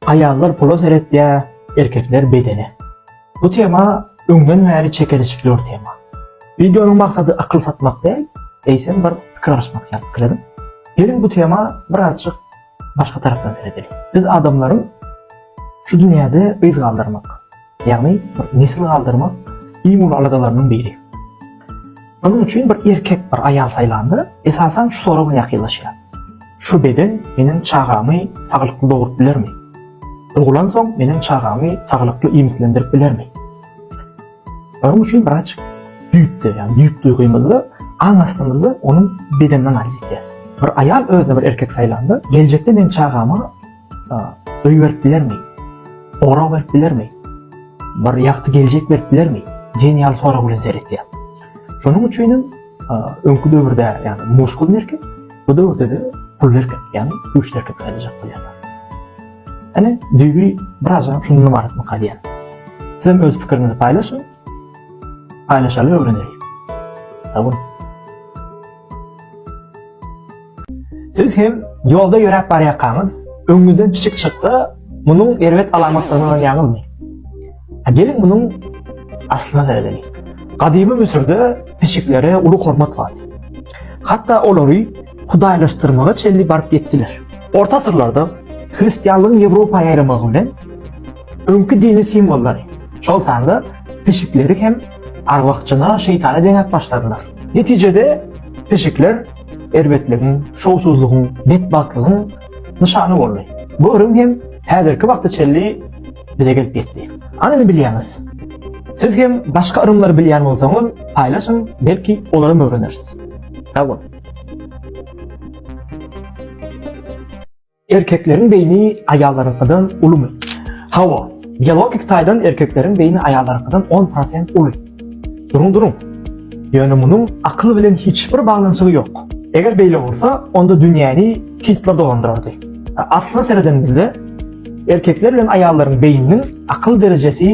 Aýallar pula seretýär, erkekler bedene. Bu tema öňden bäri çekeleşikli bir tema. Wideonyň maksady akyl satmak däl, eýsem bir pikir alyşmak ýaly pikir ediň. Geliň bu tema birazjyk başga tarapdan seredeliň. Biz adamlaryň şu dünýäde yz galdyrmak, Ýagny bir nesil galdyrmak iň uly aladalarynyň biri. Onuň üçin bir erkek bir aýal saýlanda, esasan şu sorag bilen ýakynlaşýar. Şu beden meniň çagamy saglykly dogrup bilermi? Ulgulansoň meniň çagamy saglykly iýmitlendirip bilermi? Onuň üçin biraz düýpde, ýagny düýp duýgymyzda, aň astymyzda onuň bedenini analiz edýäris. Bir aýal özüne bir erkek saýlanda, geljekde men çagama Öý berip bilermi? Gorag berip bilermi? Bir ýagty geljek berip bilermi? Diýen ýaly sorag bilen seretýär. Şonuň üçin hem öňki döwürde, ýagny muskul merkez, bu döwürde de pul merkez, ýagny güýç merkez gaýdyjak bolýar. Ene, düýbi biraz hem şundan ibarat mı diýýär. Siz hem öz pikiriňizi paýlaşyň. Paýlaşaly öwreneýin. Sag boluň. Siz hem ýolda ýöräp barýarkaňyz, öňüňizden pişik çyksa, munuň erbet alamatdygyny aňýaňyzmy? Geliň munuň aslyna seredeliň. Gadymy Müsürde pişiklere uly hormat bardy. Hatda olary hudaýlaşdyrmaga çenli baryp ýetdiler. Orta asyrlarda hristianlygyň Ýewropa ýaýramagy bilen öňki dini simwollary, şol sanda pişikleri hem Arwah-jyna, şeýtana deňäp başladylar. Netijede, pişikler erbetligiň, şowsuzlygyň, betbagtlygyň nyşany boldy. Bu ürüm hem häzirki wagta çenli bize gelip ýetdi. Hany indi bilýäňiz? Siz hem başga yrymlary bilýän bolsaňyz, paýlaşyň, belki olaram öwreneris. Sag boluň! Erkekleriň beýni aýallaryňkydan ulumy? Hawa. Biologik taýdan erkekleriň beýni aýallaryňkydan on prosent uly. Duruň, duruň. Ýöne munuň akyl bilen hiç bir baglanyşygy ýok. Eger beýle bolsa, onda dünýäni kistler dolandyrardy. Asla seredenimizde, erkekler bilen aýallaryň beýniniň akyl derejesi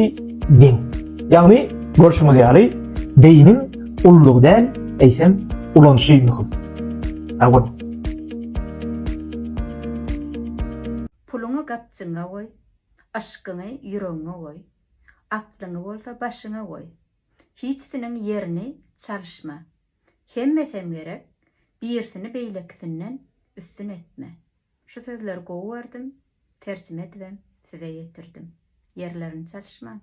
deň. Ýagny, görşüňiz ýaly, beýniň ululygy däl, eýsem, ulanyşy möhüm. Hawa. Puluňy gapjyňa goý, yşkyňy ýüregiňe goý, aklyňy bolsa başyňa goý. Hiçsiniň ýerini çalyşma. Hemmesem gerek, birisini beýlekisinden üstün etme. Şu sözleri gowy gördüm, Terjime edibem size ýetirdim. Ýerlerini çalyşmaň.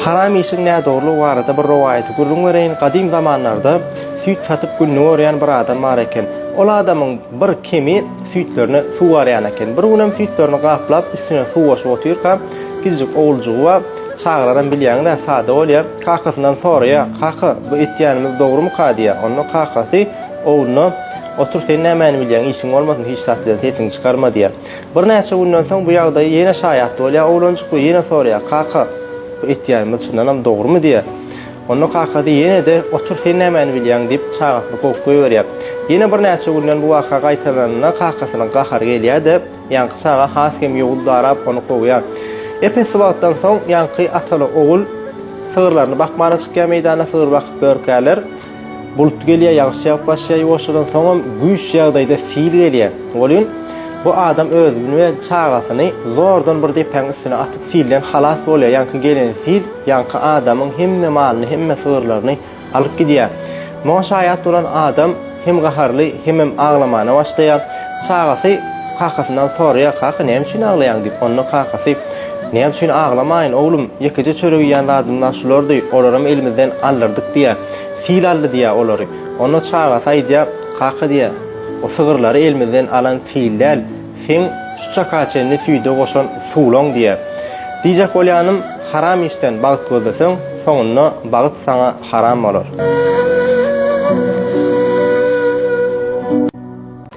Haram işiň nädogrulygy barada bir rowaýaty gürrüň bereýin. Gadym zamanlarda süýt satyp gününi görýän bir adam bar eken. Ol adamyň bir kemi süýtlerine suw garýan eken. Bir günem süýtlerini gaplap, üstüne suw goşup otyrka, kiçijik oguljygy bar. Çagalaram bilýäňiz-ä, sada bolýar. Kakasyndan soraýar, Kaka, bu etýänimiz dogrumyka? diýýär. Onda kakasy ogluna, Otur, sen nämäni bilýäň, işiň bolmasyn, hiç zat bilen sesiňi çykarma diýýär. Birnäçe günden soň bu ýagdaýa ýene şaýat bolýar oglanjyk we ýene soraýar, Kaka, bu etýänimiz çyndanam dogrumy? diýýär. Onda kakasy ýene-de, Otur, sen nämäni bilýäň? diýip, çagasyny kowup goýberýär. Ýene birnäçe günden bu waka gaýtalanynda kakasynyň gahary gelýär-de, ýaňky çaga has hem ýogyn darap, ony kowýar. Epesli wagtdan soň ýaňky ataly-ogul sygyrlaryny bakmana çykýar meýdana, sygyr bakyp börkärler. Bulut gelýär, ýagyş ýagyp başlaýar ýuwaşjadan, soňam güýç ýagdaýda sil gelýär. Welin, bu adam özüni we çagasyny zordan bir depäň üstüne atyp silden halas bolýar. Ýaňky gelen sil ýaňky adamyň hemme malyny, hemme sygyrlaryny alyp gidýär. Muňa şaýat bolan adam hem gaharly, hemem aglamana başlaýar. Çagasy kakasyndan soraýar, Kaka, näme üçin aglaýaň? diýip. Onda kakasy, Näme üçin aglamaýyn, oglum? Ýekeje çörek iýen zadymyz-a şulardy, olaram elimizden aldyrdyk diýýär. Sil aldy diýýär olary. Onda çagasy aýdýar, Kaka diýýär, O sygyrlary elimizden alan sil däl, seň şu çaka çenli süýde goşan suwlaň diýýär. Diýjek bolýanym, haram işden bagt gözleseň, soňunda bagt saňa haram bolar.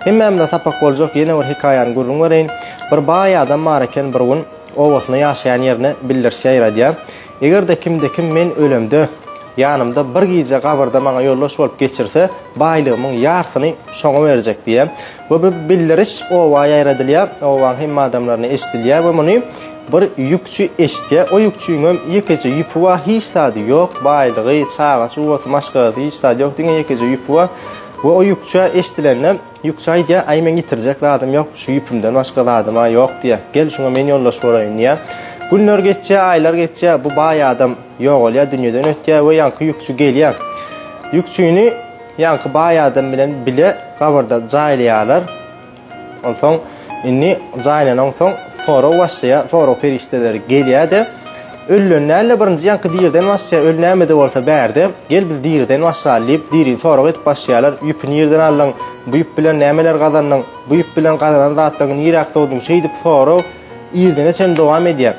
Hemmämize sapak boljak ýene bir hekaýany gürrüň bereýin. Bir baý adam bar eken bir gün obasynda ýaşaýan ýerine bildirş ýaýradýar. Eger-de kimde kim men ölemde ýanymda bir gije gabyrda maňa ýoldaş bolup geçirse baýlygymyň ýarsyny şoňa berjek diýýär. We bu bildiriş oba ýaýradylýar. Obaň hemme adamlaryna eşidilýär we muny bir ýükçi eşidýär. O ýükçiniňem ýekeje ýüpi bar hiç zady ýok baýlygy çaga çugasy maşgalasy hiç zady ýok diňe ýekeje ýüpi bar. We o ýüpçä eşdilende, ýüpçä aýdýar, Aý, meň ýitirjek zadym ýok, şu ýüpümden başga zadym-a ýok, diýýär. Gel, şuňa men ýoldaş bolaýyn, diýýär. Günler geçýär, aýlar geçýär, bu baý adam ýogalýar, dünýeden ötýär we ýaňky ýüpçi gelýär. Ýüpçini ýaňky baý adam bilen bile gabyrda jaýlaýarlar. Onsoň indi jaýyna onsoň sorag başlaýar, sorag perişdeleri gelýär-de, ölüden däl-de birinji ýaňky diriden başlaýar, öli näme-de bolsa bärde, gel biz diriden başlaly diýip, diri sorag edip başlaýarlar, ýüpi nirden aldyň, bu ýüp bilen nämeler gazandyň, bu ýüp bilen gazanan zatlaryňy niräk sowduň, şeýdip sorag irdene çenli dowam edýär.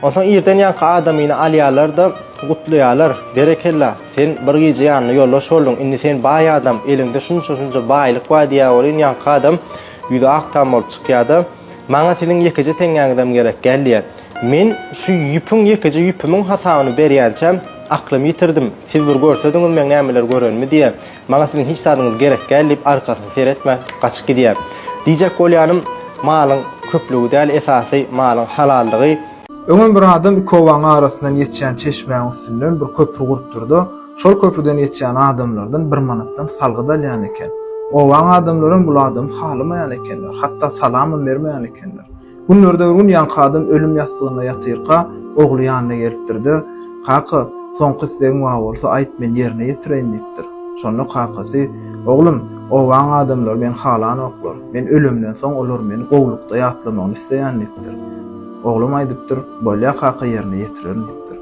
Onsoň irden ýaňky adamyny alýarlar-da, gutlaýarlar, berekella, Sen bir gije ýanyna ýoldaş bolduň, indi sen baý adam, eliňde şunça-şunça baýlyk bar diýýär welin, ýaňky adam ýüzi ak tam bolup çykýar-da, Maňa siziň ýekeje teňňäňizem gerek däl diýýär. Men şu ýüpüň ýekeje ýüpümiň hasabyny berýänçäm, aklymy ýitirdim. Siz bir görsediňiz meň nämeler görenimi diýýär. Maňa siziň hiç zadyňyz gerek däl diýip, arkasyny seretmän, gaçyp gidýär. Diýjek bolýanym, malyň köplügi däl, esasy, malyň halallygy. Öňem bir adam iki obanyň arasyndan geçýän çeşmäň üstünden bir köpri gurupdyrda, şol köprüden geçýän adamlardan bir manatdan salgyt alýan eken. Obaň adamlaram bul adamy halamaýan ekenler, hatda salamam bermeýän ekenler. Günlerde bir gün ýaňky adam ölüm ýassygynda ýatyrka, ogly ýanyna gelipdir-de, Kaka, soňky islegiň bar bolsa, aýt, men ýerine ýetireýin diýipdir. Şonda kakasy, Oglum, obaň adamlary meni halanoklar. Men ölemden soň olar meni gowulykda ýatlamagyny isleýän diýipdir. Oglum aýdypdyr, Bolýa kaka ýerine ýetirerin diýipdir.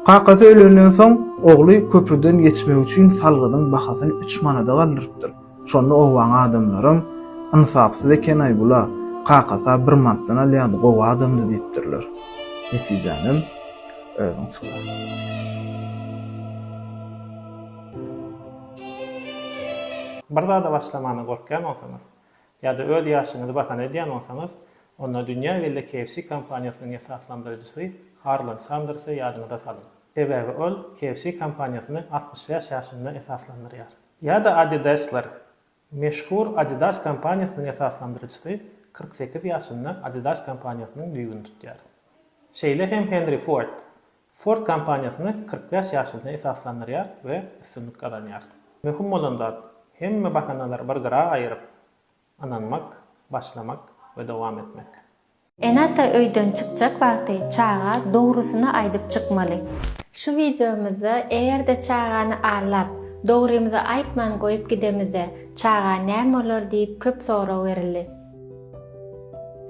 Kakasy ölenden soň ogly köprüden geçmek üçin salgydyň bahasyny üç manada galdyrypdyr. Şonda obaň adamlaram, Ynsapsyz eken-aý bul-a, kakasy-a bir mantdan alýardy, gowy adamdy diýipdirler. Netijänem özüň çykar. Bir zada başlamana gorkýan bolsaňyz, Ýa-da öz ýaşyňyzy bahana edýän bolsaňyz, onda dünýä belli KFC kompaniýasynyň esaslandyryjysy Harland Sandersy ýadyňyza salyň. Sebäbi ol KFC kompaniýasyny altmyş bäş ýaşynda esaslandyrýar. Ýa-da Adidaslar. Meşhur Adidas kompaniýasynyň esaslandyryjysy kyrk sekiz ýaşynda Adidas kompaniýasynyň düýbüni tutýar. Şeýle hem Henri Ford. Ford kompaniýasyny kyrk bäş ýaşyna esaslandyrýar we üstünlik gazanýar. Möhüm bolan zat, hemme bahanalary bir gyra aýyryp, ynanmak, başlamak we dowam etmek. Ene-ata öýden çykjak wagty çaga dogrusyny aýdyp çykmaly. Şu wideomyzda eger-de çagany aldap, dogrymyzy aýtman goýup gidemizde, çaga näme bolar diýip köp sorag berildi.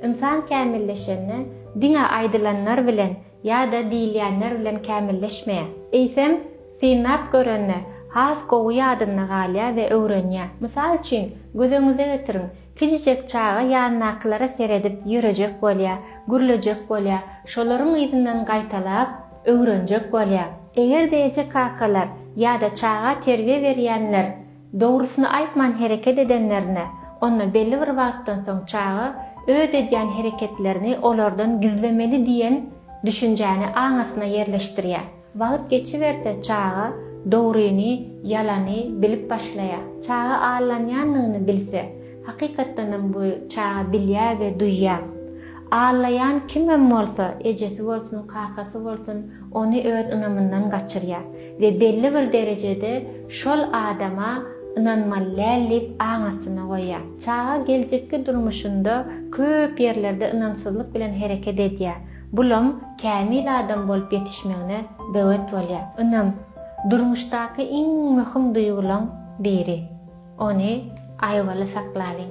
Ynsan kämilleşende diňe aýdylanlar bilen Ýa-da diýilýänler bilen kämilleşmeýär. Eýsem, synlap görende, has gowy ýadynda galýar we öwrenýär. Mysal üçin, göz öňüňize getiriň, kiçijek çaga ýanyndakylara seredip ýörejek bolýar, gürlejek bolýar, şolaryň yzyndan gaýtalap, öwrenjek bolýar. Eger-de eje-kakalar ýa-da çaga terbiýe berýänler Dogrusyny aýtman hereket edenlerine, onda belli bir wagtdan soň çaga öz edýän hereketlerini olardan gizlemeli diýen düşünjäni aňasyna ýerleşdirýär. Wagt geçiberse çaga dogryny, ýalany bilip başlaýar. Çaga allanýanyny bilse, hakykatdanam bu çaga bilýär we duýýar. Allaýan kimem bolsa, ejesi bolsun, kakasy bolsun, ony öz ynamyndan gaçyrýar. we belli bir derejede şol adama ynanmaly däl diýip aň astyna goýýar. Çaga geljekki durmuşynda köp ýerlerde ynamsyzlyk bilen hereket edýär. Bulam kämil adam bolup ýetişmegine böwet bolýar. Ynam, durmuşdaky iň möhüm duýgulaň biri. Ony aýawaly saklalyň.